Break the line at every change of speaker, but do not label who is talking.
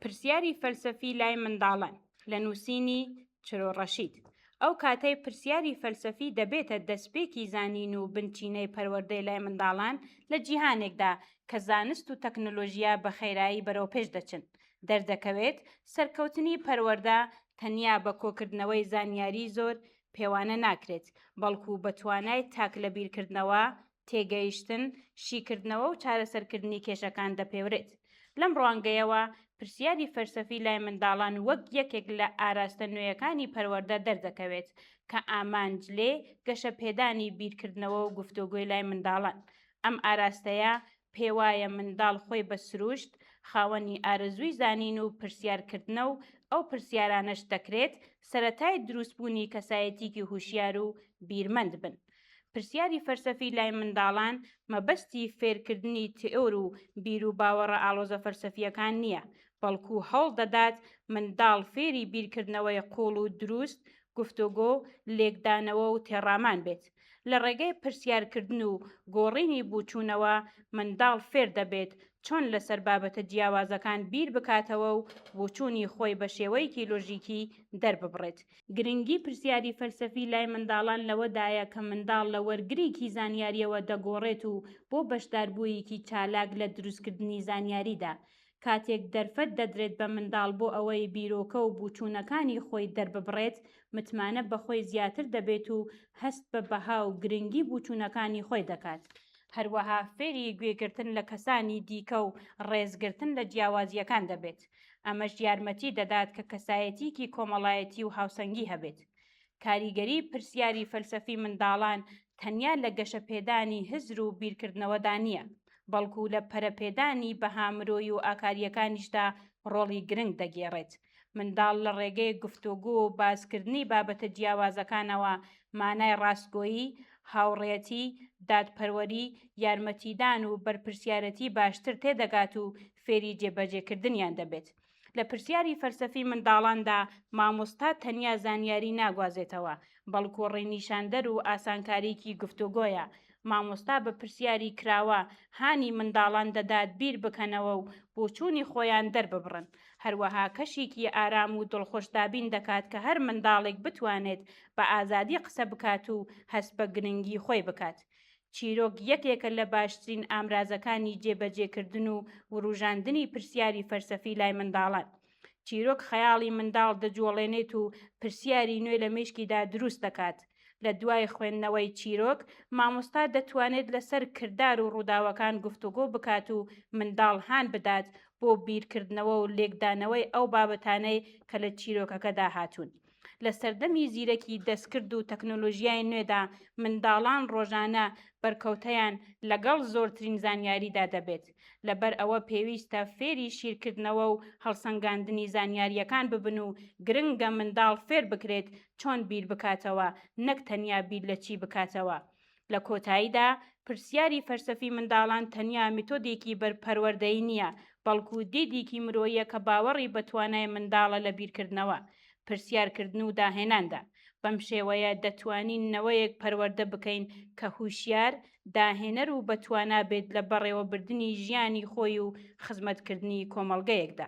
پرسیاری فەلسەفی لای منداڵان، لە نووسینی، چرۆ ڕەشید، ئەو کاتەی پرسیاری فەلسەفی دەبێتە دەستپێکی زانین و بنچینەی پەروەردەی لای منداڵان لە جیهانێکدا کە زانست و تەکنۆلۆژیا بە خێرایی بەرەوپێش دەچن، دەردەکەوێت سەرکەوتنی پەروەردە تەنیا بە کۆکردنەوەی زانیاریی زۆر پێوانە ناکرێت، بەڵکو بە توانای تاک لەبیرکردنەوە تێگەیشتن، شیکردنەوە و چارەسەرکردنی کێشەکان دەپێورێت. لەم ڕوانگەیەوە، پرسیاری فەلسەفی لای منداڵان وەک یەکێک لە ئاراستە نوێیەکانی پەروەردە دەردەکەوێت، کە ئامانج لێ گەشەپێدانی بیرکردنەوە و گفتۆگۆی لای منداڵان. ئەم ئاراستەیە پێوایە منداڵ خۆی بە سروشت خاوەنی ئارەزووی زانین و پرسیارکردنە و ئەو پرسیارانەش دەکرێت سەرەتای دروستبوونی کەسایەتییکی هوشیار و بیرمەند بن. پرسیاری فەلسەفی لای منداڵان مەبەستی فێرکردنی تئۆر و بیروباوەڕە ئاڵۆزە فەلسەفییەکان نییە، بەڵکو هەوڵ دەدات منداڵ فێری بیرکردنەوەی قووڵ و دروست، گفتۆگۆ، لێکدانەوە و تێڕامان بێت. لە ڕێگەی پرسیارکردن و گۆڕینی بووچوونەوە منداڵ فێر دەبێت چۆن لەسەر بابەتە جیاوازەکان بیر بکاتەوە و بۆچوونی خۆی بە شێوەیەکی لۆژیکی دەرببڕێت. گرنگی پرسیاری فەلسەفی لای منداڵان لەوەدایە کە منداڵ لە وەرگرێکی زانیارییەوە دەگۆڕێت و بۆ بەشداربوویەکی چالاک لە دروستکردنی زانیاریدا، کاتێک دەرفەت دەدرێت بە منداڵ بۆ ئەوەی بیرۆکە و بوچوونەکانی خۆی دەرببڕێت، متمانە بە خۆی زیاتر دەبێت و هەست بە بەها و گرنگی بوچوونەکانی خۆی دەکات. هەروەها فێری گوێگرتن لە کەسانی دیکە و ڕێزگرتن لە جیاوازییەکان دەبێت، ئەمەش یارمەتی دەدات کە کەسایەتییەکی کۆمەڵایەتی و هاوسەنگی هەبێت. کاریگەریی پرسیاری فەلسەفی منداڵان تەنیا لە گەشەپێدانی هزر و بیرکردنەوەدا نییە، بەڵکو لە پەرەپێدانی بەها مرۆیی و ئاکارییەکانیشدا ڕۆڵی گرنگ دەگێڕێت. منداڵ لە ڕێگەی گفتوگو و باسکردنی بابەتە جیاوازەکانەوە مانای ڕاستگۆیی، هاوڕێتی، دادپەروەری، یارمەتیدان و بەرپرسیارێتی باشتر تێدەگات و فێری جێبەجێکردنیان دەبێت. لە پرسیاری فەلسەفی منداڵاندا مامۆستا تەنیا زانیاری ناگوازێتەوە، بەڵکو ڕێنیشاندەر و ئاسانکاریی گفتوگۆیە. مامۆستا بە پرسیاری کراوە هانی منداڵان دەدات بیر بکەنەوە و بۆچوونی خۆیان دەرببڕن. هەروەها کەشێکی ئارام و دڵخوش دابین دەکات کە هەر منداڵێک بتوانێت بە ئازادی قسە بکات و هەست بە گرنگی خۆی بکات. چیرۆک یەکێکە لە باشترین ئامرازەکانی جێبەجێکردن و وروژاندنی پرسیاری فەلسەفی لای منداڵان. چیرۆک خەیاڵی منداڵ دەجوڵێنێت و پرسیاری نوێ لە مێشکیدا دروست دەکات. لە دوای خوێندنەوەی چیرۆک، مامۆستا دەتوانێت لەسەر کردار و ڕووداوەکان گفتوگۆ بکات و منداڵ هان بدات بۆ بیرکردنەوە و لێکدانەوەی ئەو بابەتانەی کە لە چیرۆکەکەدا هاتوون. لە سەردەمی زیرەکی دەستکرد و تەکنۆلۆژیای نوێدا منداڵان ڕۆژانە بەرکەوتەیان لەگەڵ زۆرترین زانیاریدا دەبێت، لەبەر ئەوە پێویستە فێری شیرکردنەوە و هەڵسەنگاندنی زانیارییەکان ببن و گرنگە منداڵ فێربکرێت چۆن بیربکاتەوە نەک تەنیا بیر لە چی بکاتەوە لە کۆتاییدا، پرسیاری فەلسەفی منداڵان تەنیا میتۆدێکی بەر پەروەردەیی نییە، بەڵکو دیدیکی مرۆییە کە باوەڕی بە توانای منداڵە لە بیرکردنەوە، پرسیارکردن و داهێناندا. بەم شێوەیە دەتوانین نەوەیەک پەروەردە بکەین کە هوشیار، داهێنەر و بەتوانا بێت لە بەڕێوەبردنی ژیانی خۆی و خزمەتکردنی کۆمەڵگەیەکدا.